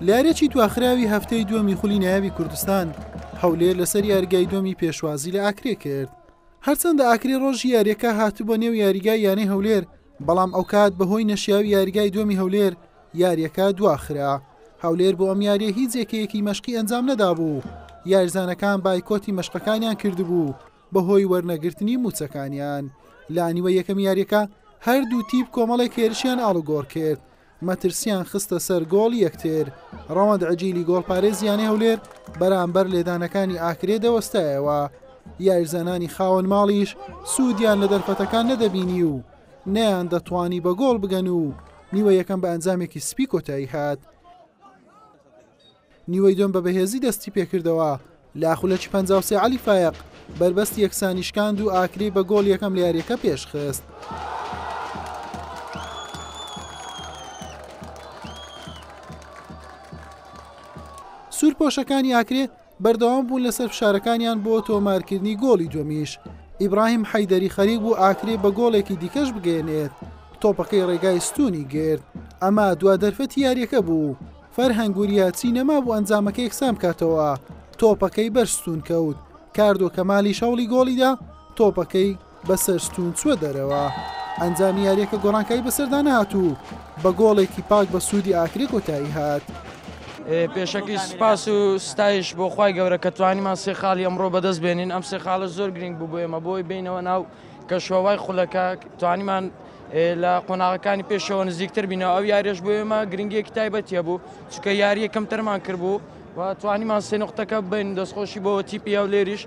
لارێکی تواخراوی هەفتەی دووەمی خولی نایابی کوردستان هەولێر لەسەر یارگای دۆمی پێشوازی لە ئاکرێ کرد هەرچەندە ئاکری ڕۆژی یاریەکە هاتبووە نێو یاریگای یانەی هەولێر بەڵام ئەو کات بەهۆی نەشیاوی یاریگای دومی هەولێر یاریەکە دواخرا هەولێر بۆ ئەم یاریە هیچ یەکەیەکی مەشقی ئەنجام نەدابوو یارزانەکان بایکۆتی مەشقەکانیان کردبوو بەهۆی وەرنەگرتنی مووچەکانیان لە نیوە یەکەمی یاریەکە هەردوو تیپ کۆمەڵێک هێرشیان ئاڵوگۆڕ کرد مەترسیان خستە سەر گۆڵ یەکتر ڕەوەند عجیلی گۆڵپارێزیانەی هەولێر بەرامبەر لێدانەکانی ئاکرێ دەوەستایەوە یاریزانانی خاوەن ماڵیش سوودیان لە دەرفەتەکان نەدەبینی و نەیان دەتوانی بە گۆڵ بگەن و نیوە یەکەم بە ئەنجامێکی سپی کۆتایی هات. نیوەی دوێم بە بەهێزی دەستی پێکردەوە لە خولەکی پەنجا و سێ عەلی فایەق بەربەستی یەکسانی شکاند و ئاکرێی بە گۆڵ یەکەم لە یارییەکە پێشخست. سوورپۆشەکانی ئاکرێ بەردەوام بوون لەسەر فشارەکانیان بۆ تۆمارکردنی گۆڵی دووەمیش ئیبراهیم حەیدەری خەریک بوو ئاکرێ بە گۆڵێکی دیکەش بگەێنێت تۆپەکەی ڕێگای ستونی گرت ئەما دوا دەرفەتی یاریەکە بوو فەرهەنگ وریاچی نەمابوو ئەنجامەکە یەکسان بکاتەوە، تۆپەکەی بەر ستوون کەوت، کاردۆ کەمالیش هەوڵی گۆڵیدا، تۆپەکەی بەسەر ستوون چووە دەرەوە. ئەنجامی یارییەکە گۆڕانکاری بەسەردا نەهات و بە گۆڵێکی پاک بە سوودی ئاکرێ کۆتایی هات. پێشەکی سوپاس و ستایش بۆ خوای گەورە کە توانیمان سێ خاڵی ئەمڕۆ بەدەست بێنین، ئەم سێ خاڵە زۆر گرنگ بوو بۆ ئێمە بۆی بێینەوە ناو کەشوهەوای خولەکە، توانیمان لە قۆناغەکانی پێشەوە نزیکتر بینەوە ئەو یاریش بۆ ئێمە گرنگیەکی تایبەتە بوو چکە یاریە کەمتەرمان کردبوو و توانیمان سێ نقطەکە بین دەستخۆشی بۆ تیپی ئەو لێریش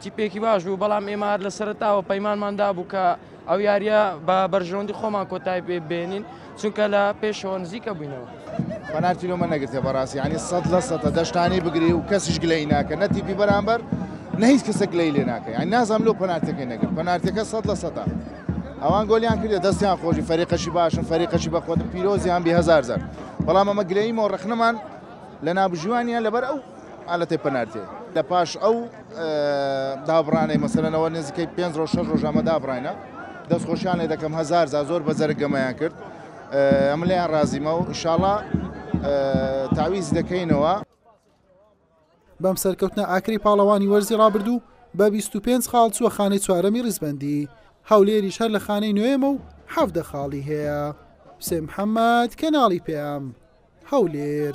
تیپێکی باش بوو بەڵام ئێمار لە سەرتاوە پەیمانماندا بوو کە ئەو یاریە بە بەرژەوەندی خۆمان کۆتای پێ بێنین چونکە لە پێشەوە نزیکە بووینەوە. پەنارتی لۆمە نەگرتە بەڕاستی ینی سەد لە سەدە دەشتانی بگری و کەسیش گلەی ناکە نەتیپی بەرامبەر نە هیچ کەسە گلەی لێ ناکە یان نازانام لۆ پەنارتەکەی نەگرت پەنارتەکە سەد لە سەدە ئەوان گۆلیان کردە دەستیان خۆشی فەریقەشی باشن فەریقەشی بەخۆت پیرۆزیان بێ هزار زار بەڵام ئەمە گلەی مۆ ڕخنەمان لە نابژوانیان لەبەر ئەو ئالەتی پەنارتێ لە پاش ئەو دابڕانەی مەسەرەوە نزیکەی پێ ڕۆژ شەش ڕۆژامە دابڕینە دەستخۆشیان لێ دەکەم هزار زار زۆر بەزەرگەمەیان کرد ئەمن لێیان ڕازیمە و ئیشاڵا تاویز دەکەینەوە. بەم سەرکەوتنە ئاکرەی پاڵەوانی وەرزی ڕابردوو بە بیست و پێنج خاڵ چووە خانەی چوارەمی ڕیزبەندی، هەولێریش هەر لە خانەی نۆیەمە و حەڤدە خاڵی هەیە. حوسێن محەمەد، کەناڵی پەیام، هەولێر.